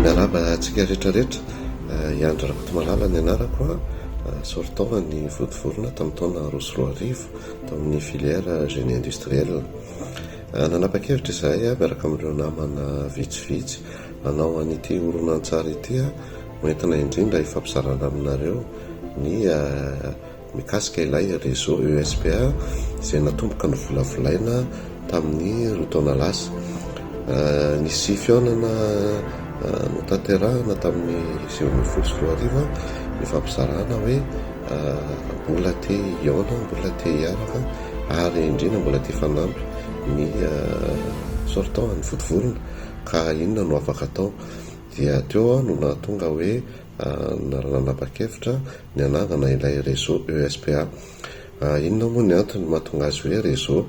Miarahaba antsika rehetra rehetra, i Andry Rakotomalala ny anarako, soritaovan'ny Vontovorona tamin'ny taona roa sy roa arivo tamin'ny filière génie industriel. Nanapa-kevitra izahay miaraka amin'ireo namana vitsivitsy hanao an'ity horonantsary ity ho entina indrindra hifampizarana aminareo ny mikasika ilay réseau ESPA izay natomboka novolavolaina tamin'ny roa taona lasa. Nisy fihaonana notanterahina tamin'ny sivy ambin'ny folo sy roa arivo nifampizarana hoe mbola te hihaona, mbola te hiaraka ary indrindra mbola te hifanampy ny sortant, ny vodivorona ka inona no afaka atao. Dia teo aho no nahatonga hoe na nanapa-kevitra ny hanangana ilay réseau ESPA. Inona moa ny antony mahatonga azy hoe réseau?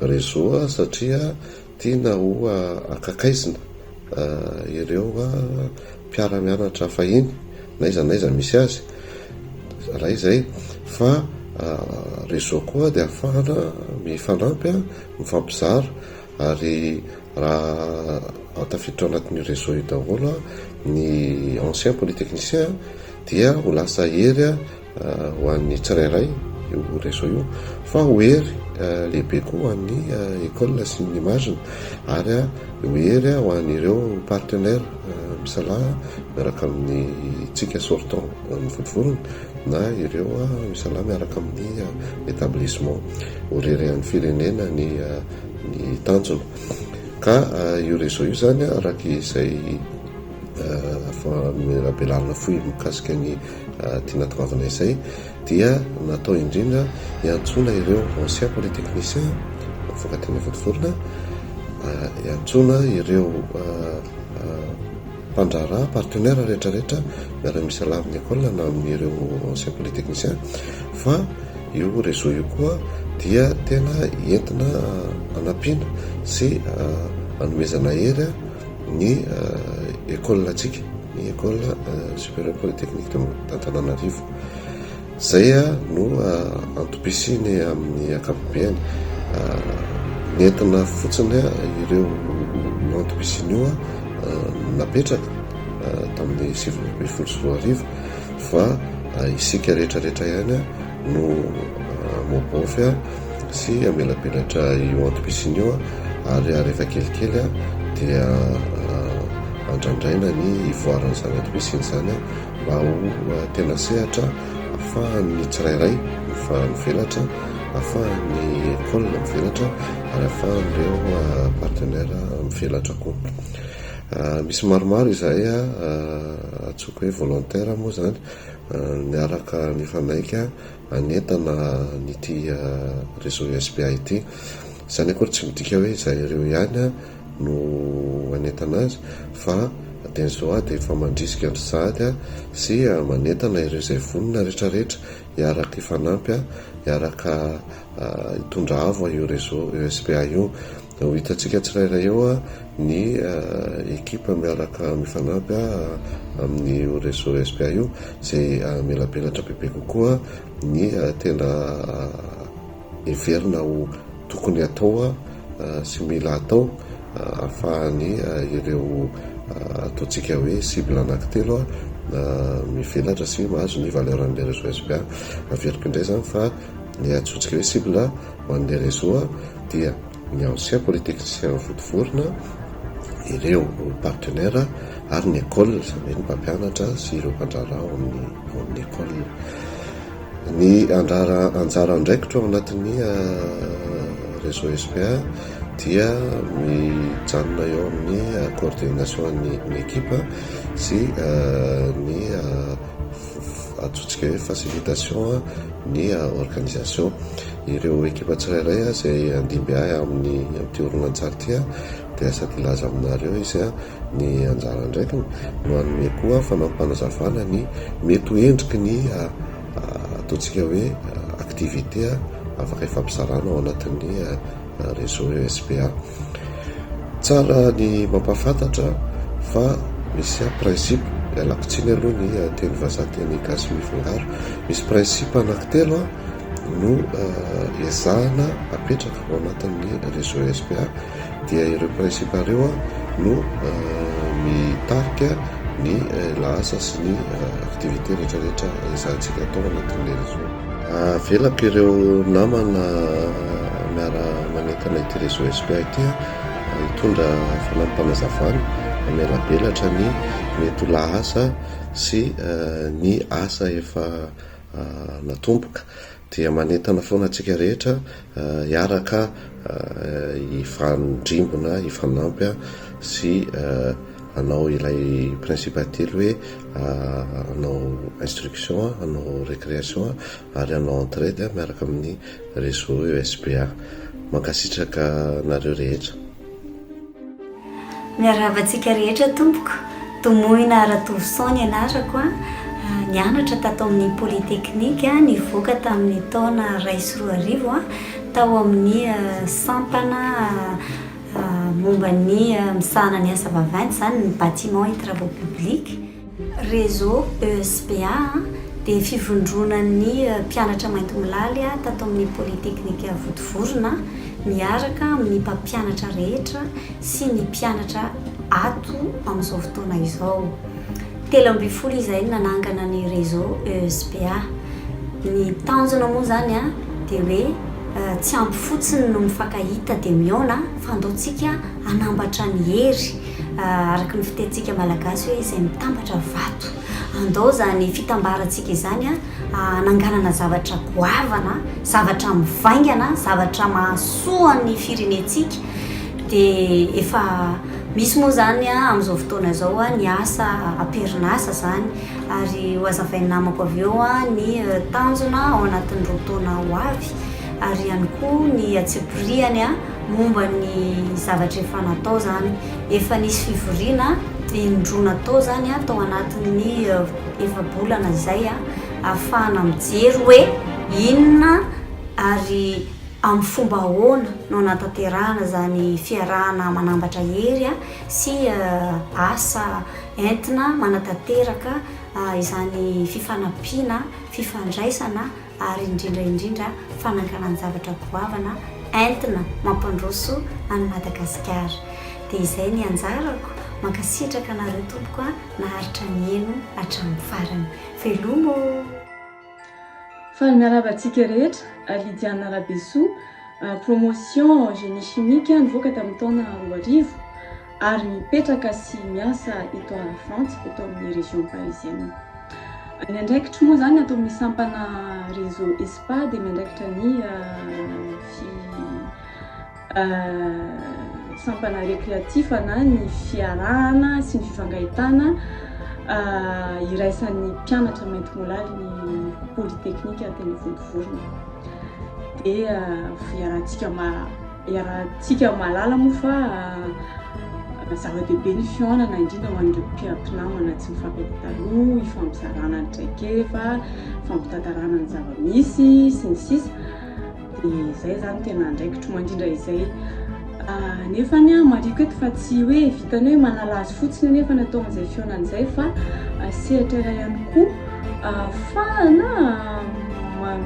Réseau satria tiana ho akakaizina ireo mpiara-mianatra fahiny n'aiza n'aiza misy azy, iray izay, fa réseau koa dia ahafahana mifanampy, mifampizara Ary raha tafiditra ao anatin'io réseau io daholo ny anciens polytechniciens dia ho lasa hery ho an'ny tsirairay io réseau io fa ho hery lehibe koa ho an'ny école sy ny image-ny ary ho hery ho an'ireo partenaires misalahy miaraka amintsika sortant amin'ny volovolony na ireo misalahy miaraka amin'ny établissement. Ho reren'ny firenena ny ny tanjona ka io réseau io zany araka izay famelabelarana fohy mikasika ny tiana toavina izay dia natao indrindra hiantsoana ireo anciens polytechniciens mifankatia ny vontovorona hiantsoana ireo mpandraharaha, partenaires rehetra rehetra miara-miisa lava ny école na amin'ireo anciens polytechniciens fa io réseau io koa dia tena entina hanampiana sy hanomezana hery ny école antsika, ny école supérieure polytechnique d'Antananarivo. Izay no antom-pisiany amin'ny ankapobeny. Nentina fotsiny ireo antom-pisiany io napetraka tamin'ny sivy ambin'ny folo sy roa arivo fa isika rehetra rehetra ihany no maobaofy sy amelabelatra io antom-pisiany io ary rehefa kelikely dia andrandraina ny ivoaran'izany antom-pisiany izany. mba ho tena sehatra ahafahan'ny tsirairay mifanvelatra, ahafahan'ny école mivelatra ary ahafahan'ireo partenaire mivelatra koa. Misy maromaro izahay antsoiko hoe volontaire moa izany, miaraka mifanaiky. hanentana an'ity réseau SBA ity. Izany akory tsy midika hoe izaireo ihany no hanentana azy fa Denzoa dia efa mandrisika an-dry sahady sy manentana ireo izay vonona rehetrarehetra hiaraka hifanampy, hiaraka hitondra avo io réseau SBA io. Ho hitantsika tsirairay eo ny ekipa miaraka mifanampy amin'io réseau SPA io izay hamelabelatra bebe kokoa ny tena heverina ho tokony atao sy mila atao ahafahan'ny ireo ataontsika hoe cible anankitelo mivelatra sy mahazo ny valeur an'ilay réseau SPA. Averiko indray izany fa ilay antsointsika hoe cible. Ho an'ny Lerezoa dia ny ancien polytechnicien vontovorona, ireo partenaire ary ny ecole, izany hoe ny mpampianatra sy ireo mpandraharaha ao amin'ny ao amin'ny ecole. Ny andrara anjara andraikitra ao anatin'ny réseau SPA dia mijanona eo amin'ny coordination ny ny ekipa sy ny antsointsika hoe facilitation ny organisation. Ireo ekipa tsirairay izay handimby ahy amin'ny amin'ity horonantsary ity dia sady hilaza aminareo izy ny anjara andraikiny no hanome koa fanampim-panazavana ny mety ho endriky ny ataontsika hoe activité afaka hifampizarana ao anatin'ny Réseau ESPA. Tsara ny mampahafantatra fa misy a principe, ialako tsiny aloha ny teny vazaha teny gasy mifangaro, misy principe anankitelo no ezahana apetraka ao anatin'ny Réseau ESPA dia ireo principe ireo no mitarika ny lahasa sy ny activité rehetra rehetra ezahantsika atao ao anatin'ilay réseau. Avelako ireo namana miara manentana ity réseau SPA ity hitondra fanampim-panazavana mamelabelatra ny mety ho lahasa sy ny asa efa natomboka. Dia manentana foana antsika rehetra Hiaraka hifandrimbona, hifanampy sy hanao ilay principe ately hoe hanao instruction, hanao récréation ary hanao entraide miaraka amin'ny réseau ESBA. Mankasitraka anareo rehetra. Miarahaba antsika rehetra tompoko. Domoina Ratovoson ny anarako a. Nianatra tato amin'ny Polytechnique, nivoaka tamin'ny taona iray sy roa arivo a, tao amin'ny sampana momba ny misahana ny asa vaventy izany ny Bâtiments et Travaux Publics. Réseau ESPA dia fivondronan'ny mpianatra maintimolaly tato amin'ny Polytechnique Votovorona miaraka amin'ny mpampianatra rehetra sy ny mpianatra ato amin'izao fotoana izao. Telo ambin'ny folo izahay no nanangana ny Réseau ESPA. Ny tanjona moa izany dia hoe tsy ampy fotsiny ny mifankahita dia mihaona fa andaontsika hanambatra ny hery. Araka ny fitenintsika malagasy hoe izay mitambatra vato. Andao izany fitambarantsika izany hananganana zavatra goavana, zavatra mivaingana, zavatra mahasoa ny firenentsika. Dia efa misy moa izany amin'izao fotoana izao ny asa am-perinasa izany. Ary hohazavain'ny namako avy eo ny eh, tanjona ao anatin'ireo taona ho avy. Ary ihany koa ny antsipiriany Momba ny zavatra efa natao izany. Efa nisy fivoriana in-droa natao izany tao anatin'ny efa-bolana izay ahafahana mijery hoe inona ary amin'ny fomba ahoana no hanatanterahana izany fiarahana manambatra hery sy asa entina manatanteraka izany fifanampiana, fifandraisana. ary indrindra indrindra fananganan-javatra goavana entina mampandroso an'i Madagasikara. Dia izay ny anjarako, mankasitraka anareo tompoko a, naharitra nihaino hatramin'ny farany. Veloma ô! Faly miarahaba antsika rehetra, Lydiana Rabesoa, Promotion Génie Chimique nivoaka tamin'ny taona roa arivo. ary mipetraka sy miasa eto a Frantsa, eto amin'ny région parisienne. Ny andraikitro moa izany ato amin'ny sampana réseau ESPA dia miandraikitra ny fi sampana récréatif na ny fiarahana sy ny fifangahitana iraisan'ny mpianatra maintimolaly ny polytechnique teny Vontovorona. Dia fiarahantsika ma Iarahantsika mahalala moa fa zava-dehibe ny fihaonana indrindra ho an'ireo mpiara-mpinamana tsy mifankatia taloha, hifampizarana ny traikefa, hifampitantarana ny zava-misy sy ny sisa dia izay izany tena andraikitro mandrindra izay. Nefa ny ahy mariko eto fa tsy hoe vitan'ny hoe manala azy fotsiny anefa ny atao amin'izay fihaonana izay fa sehatra iray ihany koa. Ahafahana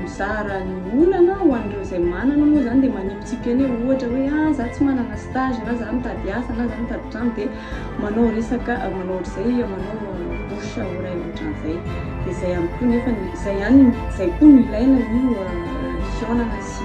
mizara ny olana ho an'ireo izay manana moa izany dia manipitsipika eny e, ohatra hoe ah za tsy manana stage na za mitady asa na za mitady trano dia manao resaka manao ohatr'izay manao bouche oreille ohatran'izay dia izay ihany koa nefa ny izay ihany izay koa no ilaina ny fihaonana sy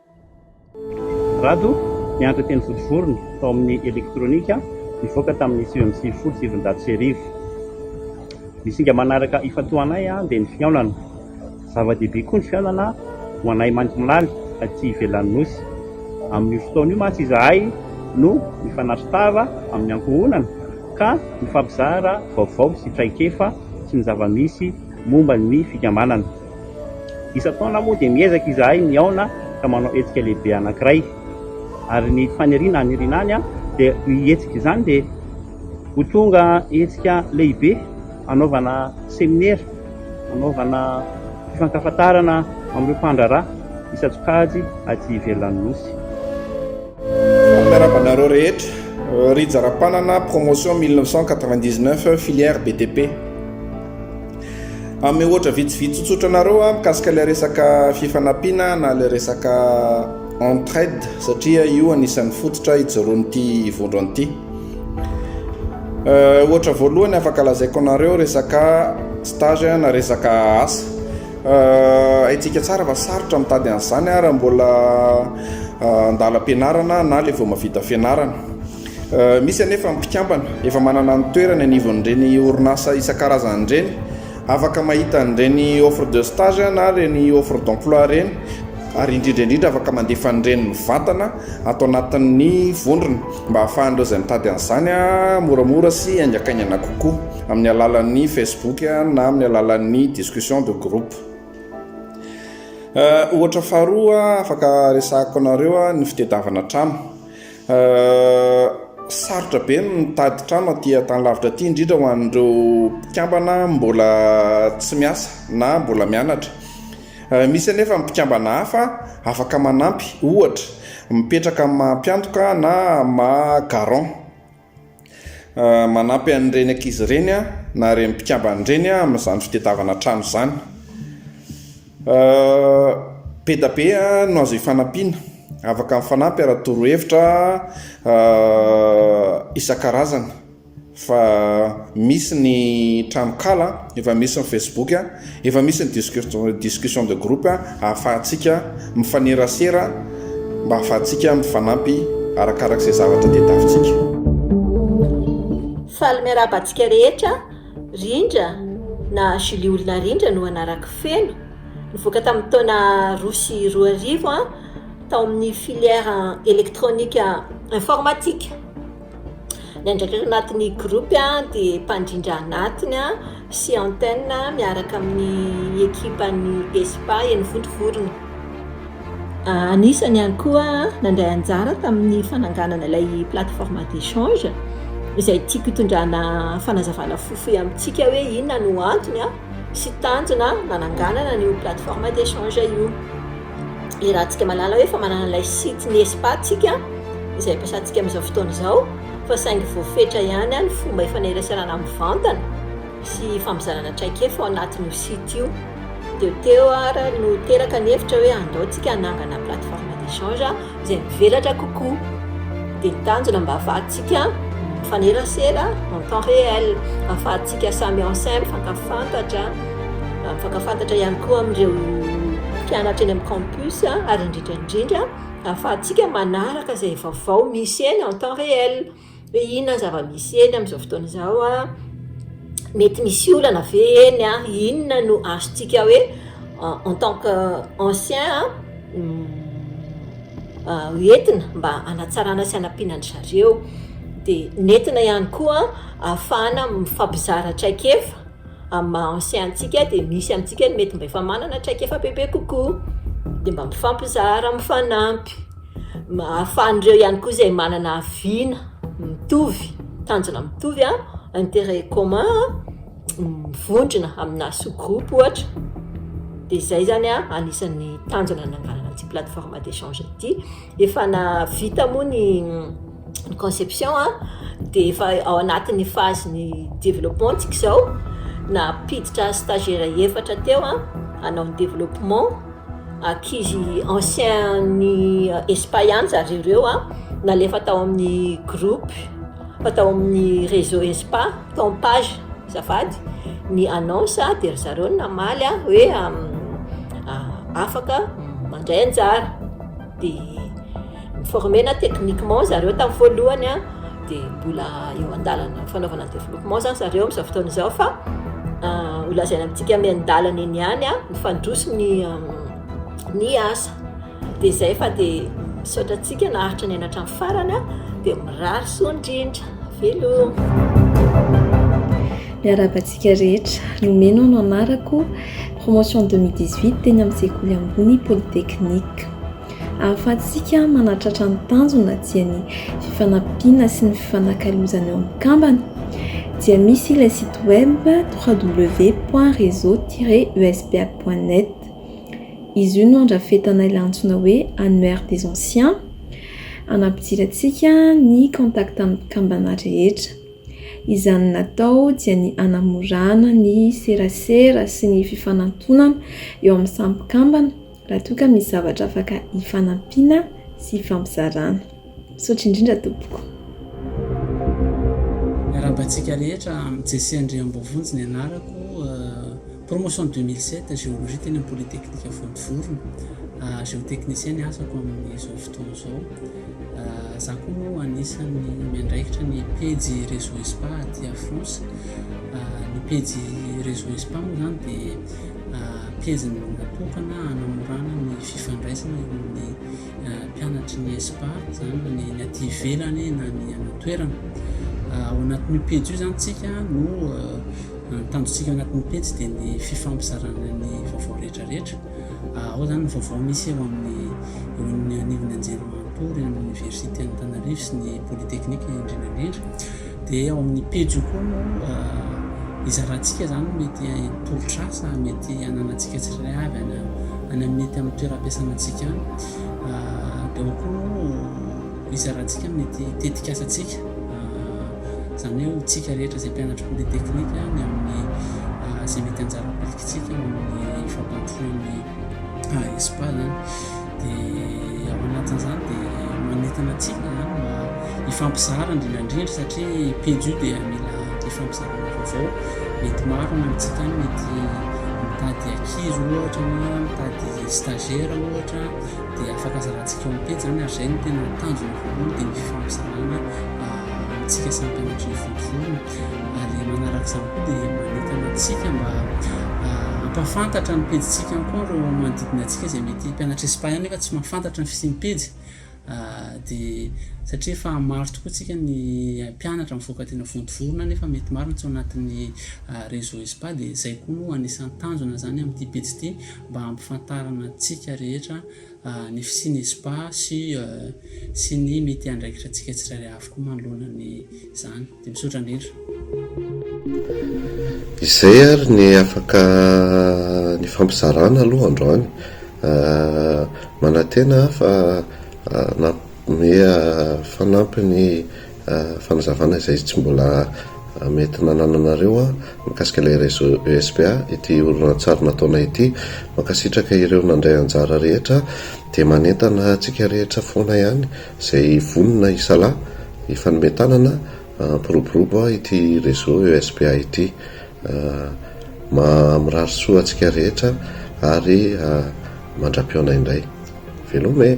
Rado, nianatra teny Vontovorona, tao amin'ny elektronika, nivoaka tamin'ny sivy amby sivifolo sy sivinjato sy arivo. Ny singa manaraka ifantohanay dia ny fihaonana. Zava-dehibe koa ny fihaonana ho anay Mandomilany aty ivelan'ny Nosy. Amin'io fotoana io mantsy izahay no nifanatrtava amin'ny ankohonana ka nifampizara vaovao sy traikefa sy ny zava-misy momba ny fikambanana. Isan-taona moa dia miezaka izahay mihaona ka manao hetsika lehibe anankiray. Ary ny faniriana haniriana any dia io hetsika izany dia ho tonga hetsika lehibe hanaovana seminera, hanaovana fifankahafantarana amin'ireo mpandraharaha isan-tsokajy aty ivelan'ny Nosy. Miarahaba anareo rehetra. Rija Rapanana, Promotion 1999, Filière BTP. Hanome ohatra vitsivitsy tsotsotra anareo aho mikasika ilay resaka fifanampiana na ilay resaka entraide satria io anisan'ny fototra ijoroan'ity vondrona ity. Euh, ohatra voalohany afaka lazaiko anareo resaka stage na resaka asa. Euh, haintsika tsara fa sarotra mitady an'izany raha mbola euh, andalam-pianarana na ilay vao mavita fianarana. Misy anefa ny mpikambana efa manana ny toerany anivon'ireny orinasa isan-karazany ireny, afaka mahita an'ireny offre de stage na ireny offre d'emploi ireny ary indrindra indrindra afaka mandefa an'ireny mivantana ato anatin'ny vondrona mba hahafahan'ireo izay mitady an'izany moramora sy haingakaingana kokoa amin'ny alalan'ny Facebook na amin'ny alalan'ny discussion de groupe. Ohatra faharoa afaka resahako anareo ny fitedavana trano. Sarotra be ny mitady trano aty Antanilavitra aty, indrindra ho an'ireo mpikambana mbola tsy miasa na mbola mianatra. Misy anefa ny mpikambana hafa afaka manampy, ohatra, mipetraka amin'ny maha mpiantoka na maha garant. Manampy an'ireny ankizy ireny na ireny mpikambana ireny amin'izany fitadiavana trano izany. Be dia be no azo ifanampiana. Afaka mifanampy ary torohevitra isan-karazany fa misy ny tranonkala, efa misy ny Facebook. Efa misy ny discussion de groupe ahafahantsika mifanerasera mba ahafahantsika mifanampy arakarak'izay zavatra tadiavintsika. Faly miarahaba antsika rehetra, Rindra na Julie Olona Rindra no anarako feno, nivoaka tamin'ny taona roa sy roa arivo aho tao amin'ny filière électronique informatique. Ny andraikitra anatin'ny groupe dia mpandrindra anatiny sy antenne miaraka amin'ny ekipan'ny ESPA eny Vontovorona. Anisany ihany koa nandray anjara tamin'ny fananganana ilay plateforme d'échange izay tiako hitondrana fanazavana fohifohy amintsika hoe inona no antony sy tanjona nananganana an'io plateforme d'échange io. Iarahantsika mahalala hoe efa manana ilay site ny Espa tsika izay ampiasantsika amin'izao fotoana izao fa saingy voafetra ihany ny fomba ifaneraserana mivantana sy fampizarana traikefa ao anatin'io site io. Teo teo ary no teraka ny hevitra hoe andao tsika hanangana plateforme d'échange izay mivelatra kokoa. Dia tanjona mba hahafahantsika mifanerasera en temps réel, hahafahantsika samy en sem, mifankafantatra, mifankafantatra ihany koa amin'ireo mpianatra eny amin'ny campus ary indrindra indrindra hahafahantsika manaraka izay vaovao misy eny en temps réel. hoe inona ny zava-misy eny amin'izao fotoana izao a, mety misy olana ve eny a, inona no azontsika hoe en tant que ancien a hoentina mba hanatsarana sy hanampiana an-dry zareo, dia nentina ihany koa ahafahana mifampizara traikefa amin'ny maha ancien antsika dia misy amintsika ny mety mba efa manana traikefa bebe kokoa dia mba mifampizara, mifanampy. Ahafahan'ireo ihany koa izay manana vina mitovy, tanjona mitovy, intérêt commun, mivondrona amina sous-groupe ohatra, dia izay izany anisan'ny tanjona nananganana ity plateforme d'échange ity. Efa nahavita moa ny. ny conception a dia efa ao anatin'ny phase ny développement tsika izao nampiditra stagiaire efatra teo a hanao ny développement ankizy ancien ny espa ihany zary ireo a nalefa tao amin'ny groupe fa tao amin'ny réseau espa tao amin'ny page zafady ny annonce a dia ry zareo namaly a hoe afaka mandray anjara dia mi-former-na techniquement zareo tamin'ny voalohany an, dia mbola eo an-dalana ny fanaovana ny développement izany zareo amin'izao fotoana izao fa ho lazaina amintsika miandalana eny ihany an, mifandroso ny ny asa, dia izay fa dia misaotra antsika naharitra niaina hatramin'ny farany an, dia mirary soa indrindra, veloma. Miarahaba antsika rehetra, Nomena no anarako. Promotion deux mille dix huit teny amin'ny sekoly ambony polytechnique. Ahafahantsika manatratra ny tanjona dia ny fifanampiana sy ny fifanakalozana eo amin'ny kambana dia misy ilay site web www.reseau-uspa.net. Izy io no andrafetana ilay antsoina hoe Annuaire des anciens hanampidirantsika ny contact amin'ny kambana rehetra. Izany natao dia ny hanamorana ny serasera sy ny fifanantonana eo amin'ny samy mpikambana raha toa ka misy zavatra afaka hifanampiana sy hifampizarana. Misaotra indrindra tompoko. Miarabantsika rehetra, Jesse Andriamboavonjy ny anarako, Promotion deux mille sept, Géologie teny amin'ny Polytechnique Vontovorona. Géotechnicien ny asako amin'izao fotoana izao. Za koa moa anisan'ny miandraikitra ny pejy Réseau Espa aty à France. Ny pejy Réseau Espa moa izany dia pejy natokana hanamorana ny fifandraisana eo amin'ny mpianatry ny ESPA zany na ny aty ivelany na ny any an-toerana. Ah, ao anatin'io pejy io zany tsika no ah, ny tanjontsika anatin'ny pejy dia ny fifampizarana ny vaovao rehetrarehetra. Ah, ao zany ny vaovao misy eo amin'ny eo amin'ny anivon'ny anjerimanontolo, eo amin'ny oniversite Antananarivo sy ny polytechnique indrindra indrindra. Dia ao amin'ny pejy io koa no hizarantsika izany mety tolotr'asa mety hananantsika tsirairay avy any amin'ny ety amin'ny toeram-piasana antsika any. Dia ao koa no hizarantsika mety tetik'asa antsika, izany hoe ho tsika rehetra izay mpianatry polyteknika ny amin'ny izay mety anjara ampilikitsika amin'ny fampandrosoan'ny AESPA izany. Dia ao anatin'izany dia manentana antsika izany mba hifampizara indrindra indrindra satria pejy io dia mila hifampizarana vaovao mety maro any amintsika any mety mitady ankizy ohatra na mitady stagiaire ohatra dia afaka zarantsika ao amin'ny pejy izany ary izay no tena tanjona voalohany dia ny fifampizarana amintsika samy mpianatry ny vontovorona. ary manaraka izany koa dia manentana antsika mba hampahafantatra ny pejintsika ihany koa ireo manodidina antsika izay mety mpianatra espagnol nefa tsy mahafantatra ny fisian'ny pejy dia satria efa maro tokoa antsika ny mpianatra mivoaka tena vontovorona nefa mety maro ny tsy ao anatin'ny réseau espa dia izay koa no anisan'ny tanjona izany amin'ity pejy ity mba hampifantarana antsika rehetra ny fisian'ny espa sy sy ny mety andraikitra antsika tsirairay avy koa manoloana ny izany Dia misaotra indrindra. Izay ary ny afaka nifampizarana aloha androany, manantena aho fa nanome fanampiny fanazavana izay tsy mbola mety nanananareo aho mikasika ilay réseau ESPA ity horonantsary nataonay ity, mankasitraka ireo nandray anjara rehetra dia manentana antsika rehetra foana ihany. Izay vonona hisalahy, hifanome tanana, hampiroborobo ity réseau ESPA ity. Mirary soa antsika rehetra ary mandra-pihaona indray. Veloma e!